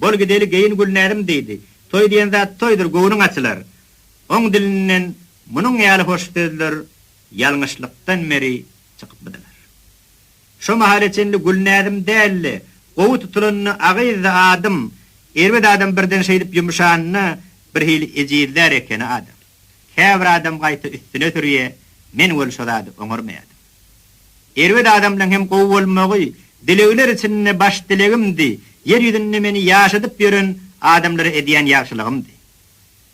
Bol gideli geýin Gülnäzim diýdi. Toý diýen zat toýdur, göwnüň açylar. Oň dilinden munuň ýaly hoş sözler ýalňyşlykdan beri çykypmydylar. Şo mahala çenli Gülnäzim dälde, gowy tutulanda agyzdy adym, erbet adam birden şeýdip ýumşanda birhili ejizlär ekeni adam. Käbir adam gaýta üstüne sürýä, men weli şo zady oňarmaýadym. Erbet adam bilen hem gowy bolmagy dilegler içinde baş dilegimdi, ýer ýüzünde meni ýaşadyp ýören adamlara edýän ýagşylygymdy.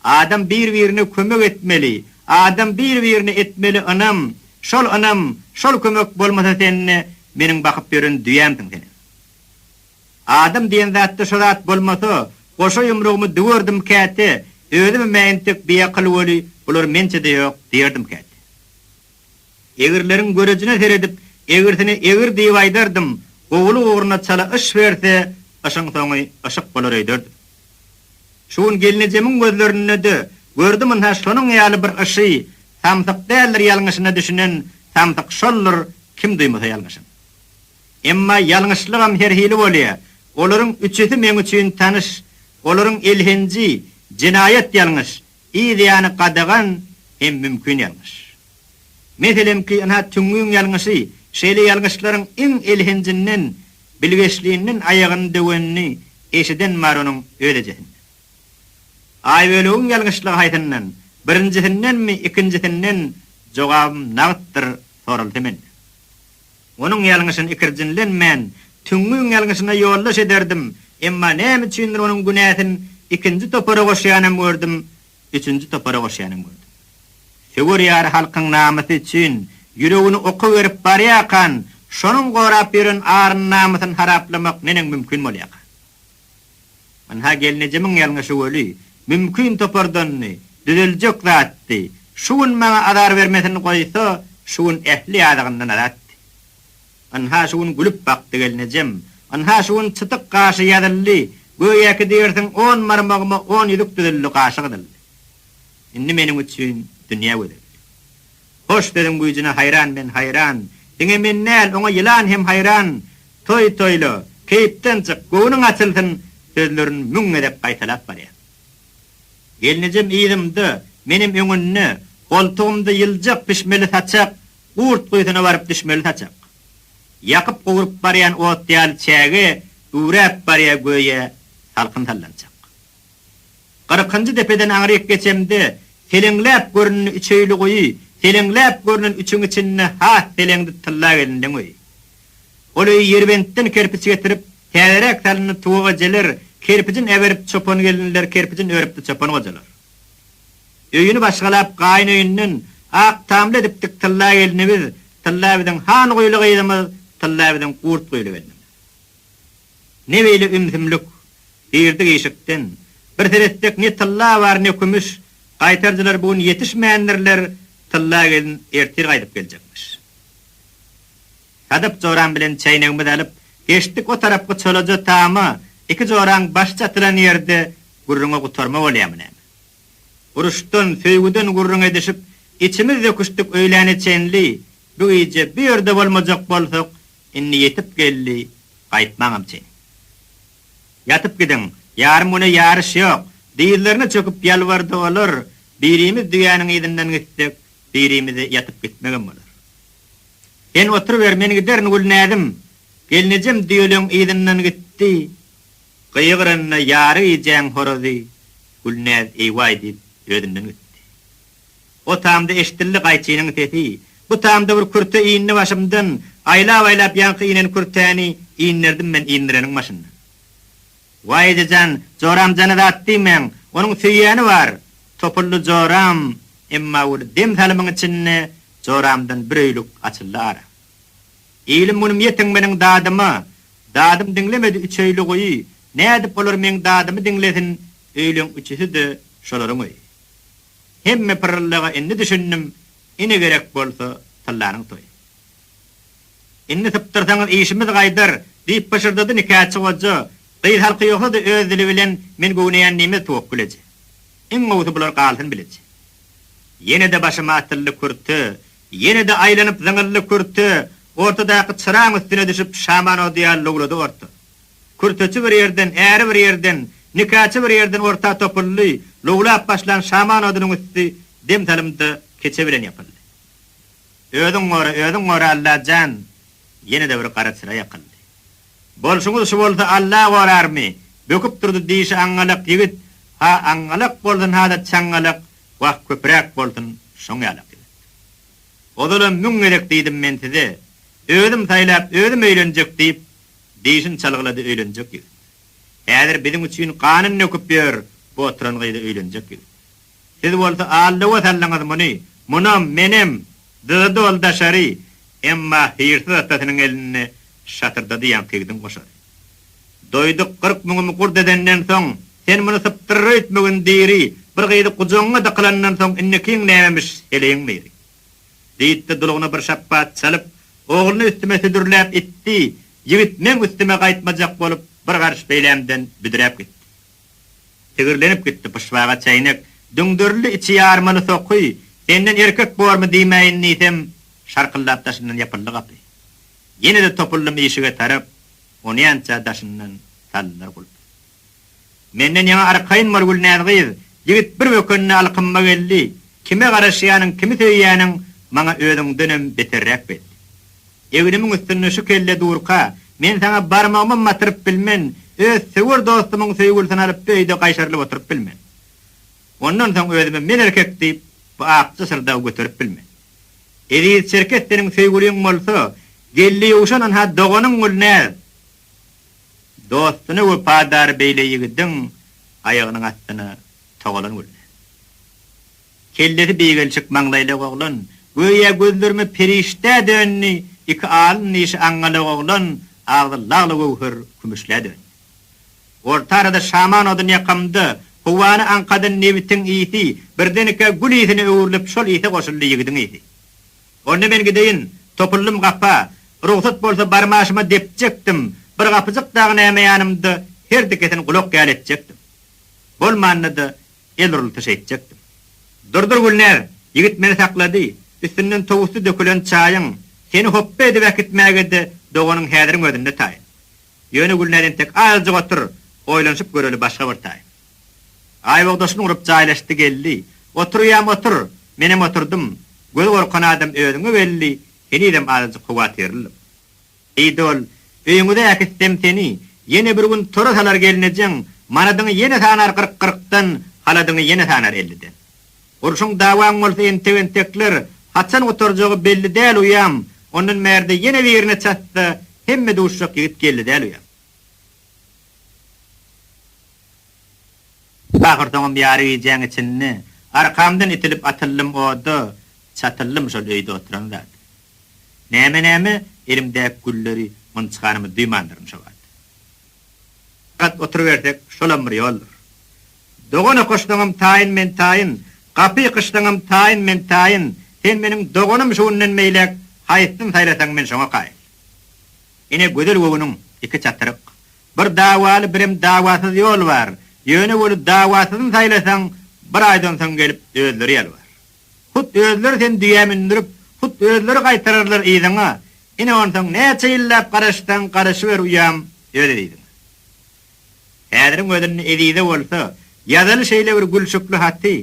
Adam bir-birine kömek etmeli, adam bir-birine etmeli ynam, şol ynam, şol kömek bolmasa sende meniň bakyp ýören düýämsiň seniň. Adam diýen zatda şo zat bolmasa, goşa ýumrugymy düwerdim käte, özüm hem entek biakyl weli, bular mençe-de ýok diýerdim käte. Egirleriň görejine seredip, egirsine egir diýip aýdardym, gowulyk ugruna çala yş berse, yşyň soňy yşyk bolar öýderdim. Şu gün gelnejemiň gözlerinde-de gördüm ynha şonuň ýaly bir yşy, samsyk däldir ýalňyşyna düşünen samsyk şoldur, kim duýmasa ýalňyşyny. Emma ýalňyşlygam her hili bolýar. Olaryň üçüsi meň üçin tanyş. Olaryň elhenji, jenaýat ýalňyş, yz ýany gadagan hem mümkin ýalňyş. Meselemki, ynha tüňňüň ýalňyşy, şeýle ýalňyşlaryň iň elhenjinden, bilgeşlinden aýagyny döwenini eşiden bar onuň öz ejesinden. Aýbölegiň ýalňyşlygy haýsyndan, birinjisindenmi, ikinjisinden, jogabym nagtdyr soralsa menden. Onuň ýalňyşyny ikirjiňlenmän, tüňňüň ýalňyşyna ýoldaş ederdim, emma näme üçindir onuň günäsin ikinji topara goşýanam gördüm, üçünji topara goşýanam gördüm. Söwer ýary halkyň namysy üçin ýüregini oka berip barýarkan, şonuň gorap ýören aryny-namysyny haraplamak neneň mümkin bolýarka? Ynha, gelnejemiň ýalňy şu weli, mümkin topardandy, düzeljek zatdy. Şu gün maňa azar bermesin goýsa, şu gün ähli ýazygyndan azatdy. Ynha, şu gün gülüp bakdy gelnejem. Ynha, şu gün çytyk gaşy ýazyldy, göýäki diýersiň on barmagyma on ýüzük düzüldi, gaşy gyzyldy. Indi meniň üçin dünýä gözeldi. Hoş sözüň güýjüne haýran men haýran. Diňe men däl oňa ýylan hem haýran. Toý toýla, keýpden çyk, göwnüň açylsyn sözlerin müň gezek gaýtalap barýar. Gelnejem yzymda, menem öňünde, goltugymda ýyljak pişmeli saçak, gurt guýusyna baryp düşmeli saçak. Ýakyp gowrup barýan ot ýaly çäge üwräp barýar göýä salkyn sallançak. Gyrkynjy depeden aňryk geçemde, seleňläp göründi üçeýli guýy, seleňläp görünen üçüň içinde has seleňdi tylla gelindiň öýi. Ol öýi Ýerbentden kerpiç getirip, täzeräk salyndy Tuwuk ejeler kerpijin äberip çopan gelinler kerpijin örüpdi çopan gojalar. Öýüni başgalap gaýyn öýünden ak tamly edipdik tylla gelini biz, tylla biziň han guýly gyzymyz, tylla biziň gurt guýly gelnimiz. Ne beýle ümsümlik! Girdik işikden. Bir seretsek ne tylla bar, ne kümüş. Gaýtaryjylar bu gün ýetişmändirler, Tylla gelin ertir gaýdyp geljekmiş. Sadyp joram bilen çäýnegimizi alyp, geçdik o tarapky çolaja tama, iki joraň başy çatylan ýerde gürrüňe gutarma bolýamy näme? Uruşdan, söýgüden gürrüň edişip, içimiz döküşdik öýläne çenli, bu gije bu ýerde bolmajak bolsak, Indi ýetip geldi, gaýtmaňam çyn. Ýatyp gidiň, ýarym güne ýaryş ýok! dyzlaryna çöküp ýalbardy olar, birimiz düýäniň yzyndan gitsek, birimize ýatyp gitmegem bolar. Sen oturyber, men giderin, Gülnäzim! Gelnejem düýeleň yzyndan gitdi, gygy-rynda ýary gijäň horazy Gülnäz eý-waý diýip, özünden gitdi. O tamda eşidildi gaýçynyň sesi. Bu tamda bir kürte iýindi başymdan. Aýlap-aýlap ýaňky iýnen kürtäni inderdim men indireniň başynda. Waý ejejan, joram jana zat diýmäň, onuň söýýäni bar. Topuldy joram, emma bir dem salymyň içinde joramdan bir öýlük açyldy ara. Ilim-günüm ýetin meniň dadyma. Dadym diňlemedi üç öýlügi. Nädip olar meň dadymy diňlesin, öýleň üçüsi-de şolaryň öýi. Hemme pyrryllyga indi düşündim, ine gerek bolsa tyllanyň toýy. Indi sypdyrsaňyz işimiz gaýdar, diýip pyşyrdady nikäçi goja, gyz halky ýogsa-da öz dili bilen men göwneýän diýmez Towakgül eje. Iň gowusy bular galsyn bileje. Ýene-de başyma atyldy kürte, ýene-de aýlanyp zyňyldy kürte, ortadaky çyraň üstüne düşüp şaman ody ýaly lowlady orta. Kürteçi bir ýerden, äri bir ýerden, nikaçy bir ýerden orta topuldy, lowlap başlan şaman odunyň üsti dem salymda keçe bilen ýapyldy. Özüň gora, özüň gora Allajan! Ýene-de bir gara çyra ýakyldy. Bolşuňyz şu bolsa Alla gorarmy? böküp durdy dişi aňňalak ýigit, ha aňňalak bolsun ha-da çaňňalak, wah köpüräk bolsun şoň ýalak ýigit. Ozalam müň gezek diýdim men size, özüm saýlap, özüm öýlenjek diýip, Dişin çalgylady öýlenjek ýigit. Häzir biziň üçin ganyn döküp ýör bu oturan gyzy öýlenjek ýigit. Siz bolsa al-lowa saldyňyz muny, munam, menem, dyzy doly daşary, emma hyýrsyz atasynyň elinde şatyrdady ýaňkyýgidiň goşary. Doýduk gyrk müňümi gurt edenden soň, sen muny sypdyryr öýtmegin diri, bir gyzy gujagyňa dykylandan soň indikiň nämemiş, heleýiň myry. Diýdi-de, dulugyna bir şapbat çalyp, ogluny üstüme südürläp itdi, ýigit meň üstüme gaýtmajak bolup, bir garş beýlämden büdräp gitdi. Tigirlenip gitdi, pyşbaga çäýnek, düňderildi içi ýarmaly soky, senden erkek bormy diýmäýin diýsem, şarkyldap daşyndan ýapyldy gapy. Ýene-de topuldym işige tarap, onýança daşyndan saldylar gulpy. Menden ýaňa arkaýyn bol, Gülnäz gyz! Ýigit bir bökende alkyma geldi, Kime garaşýanyň, kimi söýýäniň maňa özüňdenem beterräk bet. Egnimiň üstünde şu kelle durka, men saňa barmagymam batyryp bilmen, öz söwer dostumyň söýgülisini alyp öýde gaýşarylyp oturyp bilmen. Ondan soň özümi men erkek diýip, bu akja syrdagy göterip bilmen. Eziz Çerkes seniň söýgüliň bolsa, geldi ýowşan ynha doganyň Gülnäz! Dostuna wepadar beýle ýigidiň aýagynyň astyna togalan bolýar. Kellesi bigelşik maňlaýlak oglan, göýä gözlerime perişdä döndi, iki alyn dişi aňňalak oglan, agzy lagly göwher kümüşlä döndi. Orta arada şaman odun ýakamda, howany aňkadan nebitiň ysy, birdenekä gül ysyna öwrülip şol ysa goşuldy ýigidiň ysy. Onda men gideýin, topuldym gapa. Rugsat bolsa barmaşyma depjekdim, bir gapyjyk dagy näme ýanymda herdikesini gulak ýaly etjekdim. Bolmanda-da el urultyş etjekdim. Durdur Gülnäz, ýigit meni saklady, üstünden towusdy dökülen çaýyň, seni hopba edip äkitmäge-de doganyň häziriň özünde taýyn. Ýöne Gülnäz entek azajyk otur, oýlanyşyp göreli başga bir taýyn. Aýbogdaşyny urup jaýlaşdy geldi. Oturýam otur, menem oturdym. Gözi gorkan adam özüňe belli, henizem azajyk howatyrlylyk. Diýdi ol, Öýüňize äkitsem seni, ýene bir gün tora salar gelnejeň, manadyňy ýene sanar gyrk gyrkdan, haladyňy ýene sanar elliden. Urşuň dawaň bolsa entek-entekler, haçan gutarjagy belli däl uýam, ondan bärde ýene birine çatsa, hemme duşjak ýigit geldi däl uýam. Ahyrsoňam ýary gijäň içinde arkamdan itilip atyldym oda çatyldym şol öýde oturan zat. Näme näme elimdäki gülleri ynçganymy duýmandyryn şo wagt. Gat oturybersek şolam bir ýoldur. Dogan okaşsaňam taýyn men taýyn, gapy ýykyşsaňam taýyn men taýyn, sen meniň doganym şu günden beýläk haýsyny saýlasaň men şoňa kaýyl. Ine gözel göwniň iki çatryk. Bir dawaly birem dawasyz ýol bar, ýöne weli dawasyzyny saýlasaň bir aýdan soň gelip özleri ýalbar. Hut özleri seni düýä mündürip, hut özleri gaýtararlar yzyňa, ine onsoň näçe ýyllap garaşsaň garaşyber uýam öz eziziňe. Häziriň özünde ezize bolsa ýazaly şeýle bir gülşükli haty.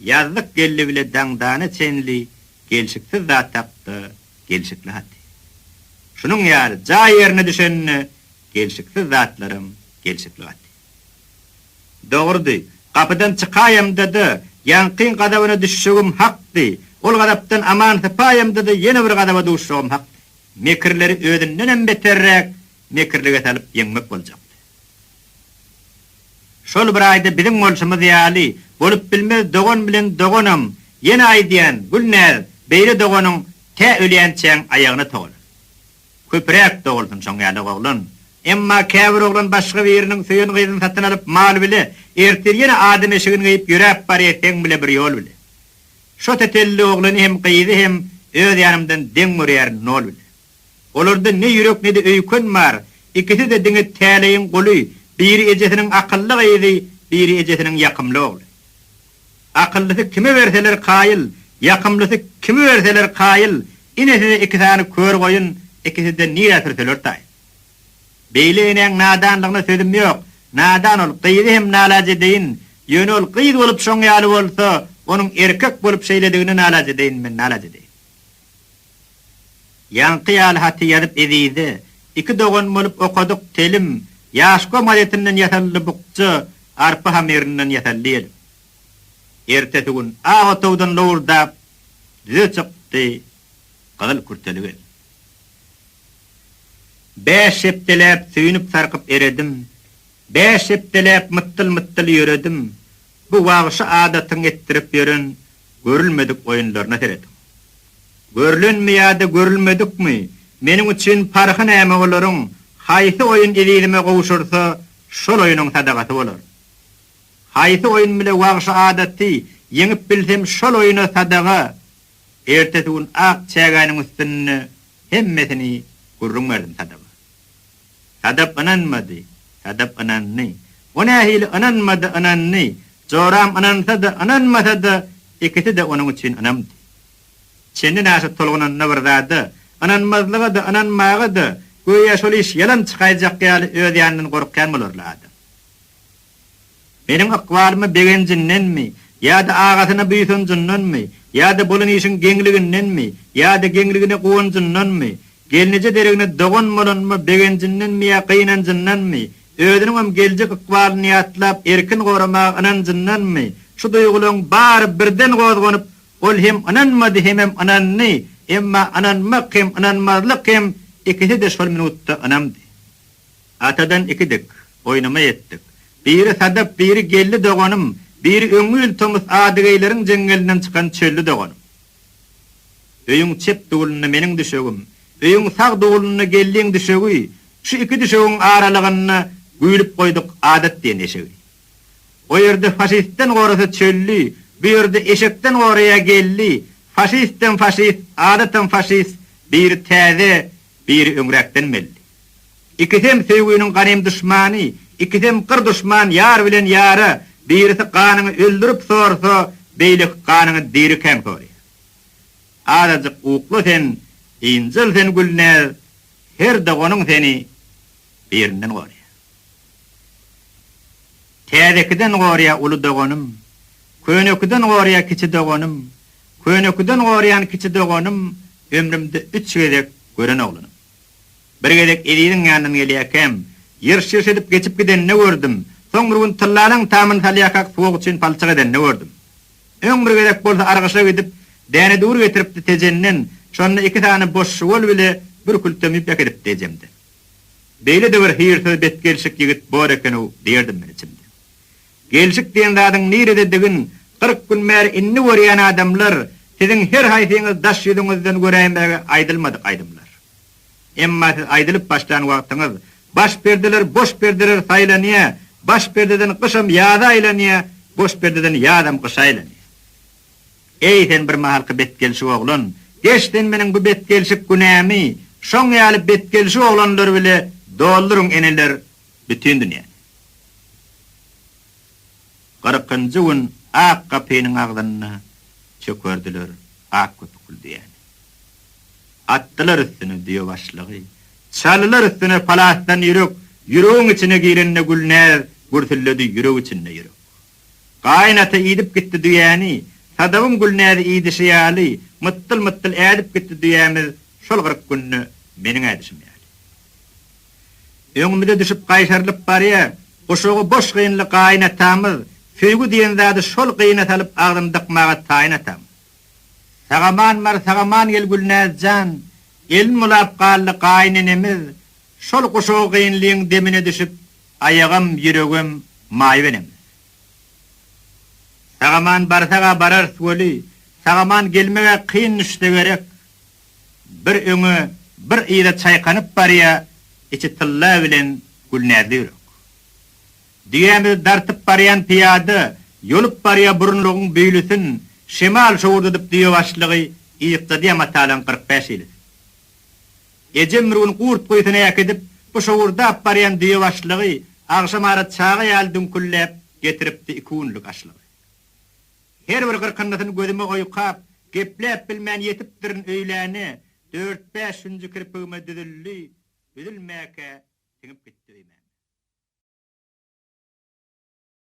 Ýazlyk geldi bile daňdana çenli gelşiksiz zat hakda gelşikli haty. Şunuň ýaly jaý ýerine düşende gelşiksiz zatlaram gelşikli gaty. Dogrudy, gapydan çykaýamda-da, ýaňky gazabyna düşjegim hakdy, ol gazapdan aman sypaýamda-da ýene bir gazaba duşjagym hakdy. Mekirleri özündenem beterräk mekirlige salyp ýeňmek boljakdy. Şol bir aýda biziň bolşumyz ýaly bolup bilmez dogan bilen doganam ýene aýdýan Gülnäz beýle doganyň tä ölýänçäň aýagyna togalar. Köpüräk dogulsun şoň ýaly oglan. Emma käbir oglan başga biriniň söýen gyzyny satyn alyp mal bile ertir ýene adam eşigini geýip ýöräp barýa seň bile bir ýol bile. Şo tetelli oglany hem gyzy hem öz ýanymdan deň görýärin nol bile. Olarda ne ýürek ne-de öýken bar, ikisi-de diňe täleýiň guly, biri ejesiniň akylly gyzy, biri ejesiniň ýakymly ogly. Akyllysy kime berseler kaýyl, ýakymlysy kime berseler kaýyl, inesi-de iki sany kör goýun, ikisi-de nirä sürseler taýyn. Beýle enäň nadanlygyna sözüm ýok, nadan ol, gyzy hem nalaç edeýin, ýöne ol gyz bolup şoň ýaly bolsa, onuň erkek bolup şeýledigine nalaç edeýin men, nalaç edeýin. Ýaňky ýaly haty ýazyp Ezize, Iki dogan bolup okadyk telim, Ýaş gom gazetinden ýasaldy bukja, Arpa hamyrynydan ýasaldy ýelim. Ertesi gün ak otagdan lowurdap Düze çykdy gyzyl kürteli gelin. Bäş hepdeläp söýünip-sarkyp eredim, Bäş hepdeläp mytdyl-mytdyl ýöredim, Bu wagşy adatyň etdirip ýören görülmedik oýunlaryna serediň. Görlenmi ýa-da görülmedikmi, meniň üçin parhy näme olaryň, haýsy oýun ezizime gowşursa, şol oýunyň sadagasy bolar. Haýsy oýun bile wagşy adaty ýeňip bilsem şol oýuna sadaga, ertesi gün ak çägäniň üstünde hemmesini gürrüň berdim sadaga. Sadap ynanmady. Sadap ynandy. O nähili ynanmady, ynandy. Joram ynansa-da, ynanmasa-da, ikisi-de onuň üçin ynamdy. Çenden aşa tolgunanda bir zada, ynanmazlyga-da, ynanmaga-da, göýä şol iş ýalan çykaýjak ýaly öz ýanyndan gorkýan bolarly adam. Meniň ykbalyma begenjindenmi, ýa-da agasyna buýsanjyndanmy, ýa-da bolan işiň geňligindenmi, ýa-da geňligine guwanjyndanmy, gelneje deregine dogan bolanyma begenjindenmi ýa gynanjyndanmy, özüniňem geljek ykbalyny ýatlap erkin goramaga ynanjyndanmy, şu duýgularyň bary birden gozganyp, ol hem ynanmady, hemem ynandy, emma ynanmak hem ynanmazlyk hem ikisi-de şol minutda ynamdy. Atadan iki dik, oýnama etdik. Biri Sadap, biri Geldi doganym, biri öňňi ýyl tomus Adygeýleriň jeňňelinden çykan Çölli doganym. Öýüň çep dulunda meniň düşegim, öýüň sag dulunda Geldiň düşegi, şu iki düşegiň aralygynda güýlüp goýduk Adat diýen eşegi. O ýerde faşistden gorasa Çölli, bu ýerde eşekden goraýa Geldi, faşistem faşist, Adatam faşist, biri täze, biri öňräkden belli. Ikisem söýginiň ganym duşmany, Ikisem gyr duşman ýar bilen ýara, Birisi ganyňy öldürip sorsa, Beýleki ganyňy dirikäň sorýar. Azajyk ukla sen, ynjal sen Gülnäz, Her doganyň seni birinden gorýar. Täzekiden gorýa uly doganym, Könekiden gorýa kiçi doganym, Könekiden gorýan kiçi doganym, Ömrümde üç gezek gören oglanym. Bir gezek Eziziň ýanyndan gelýärkäm, ýyrş-ýyrş edip geçip gidenini gördüm, soň bir gün tyllalaň tamyny salýarkak suwag üçin palçyk edenini gördüm. Öň bir gezek bolsa argyşa gidip, däne dury getiripdi Tejenden, şonda iki sany boş şuwal bile bir kültem ýüp äkidipdi ejemde. Beýle-de bir hyýrsyz betgelşik ýigit bor eken-ow diýerdim men içimde. Gelşik diýen zadyň nirededigin kyrk gün bäri indi görýän adamlar, siziň her haýsyňyz daş ýüzüňizden göräýmäge aýdylmadyk aýdymlar. Emma siz aýdylyp başlan wagtyňyz, baş perdeler boş perdeler saýlanýar, baş perdeden gyşam ýaza aýlanýar, boş perdeden ýazam gyşa aýlanýar. Eý sen bir mahalky betgelşik oglan, geç sen meniň bu betgelşik günämi şoň ýaly betgelşik oglanlar bile dolduryň eneler Bütin dünýä. Kyrkynjy gün ak gapynyň agzynda çökerdiler ak köpükli düýäni. Atdylar üstüne düýe başlygy. Çaldylar üstüne palasdan ýürek, ýüregiň içine girende Gülnäz gürsüldedi ýürek içinde ýürek. Gaýyn ata idip gitdi düýäni, Sadabyň Gülnäzi idişi ýaly, mytdyl-mytdyl ädip gitdi düýämiz şol kyrk günde meniň ädişim ýaly. Öňümize düşüp gaýtarylyp barýa, guşagy boş gynly gaýyn atamyz, söýgi diýen zady şol gyna salyp agzyny dykmaga taýyn atamyz. Sagaman bar, sagaman gel Gülnäz jan, elin bulap galdy gaýyn enemiz, şol guşagy gynlyň demine düşüp, aýagam, ýüregem maýyp enemiz. Sagaman barsaga bararys weli, sagaman gelmegä kyn düşse gerek, Bir öňe, bir yza çaýkanyp barýa içi tylla bilen Gülnäzli ýürek. Düýämizi dartyp barýan pyýada ýolup barýa burunlygyň büýlüsin şemal şowurdadyp düýe başlygy ýykladýa matalaň kyrk bäş ýelisin. Ejem bir gün gurt guýusyna äkidip bu şowurdap barýan düýe başlygy agşamara çaga ýaly düňkülläp getiripdi iki günlük aşlygy. Her bir gyrkyndysyny gözüme oýkap, gepläp bilmän ýetipdirin öýläne, dört-bäş hünji kirpigime düzüldi, üzülmäkä siňip gitdi öýmäne.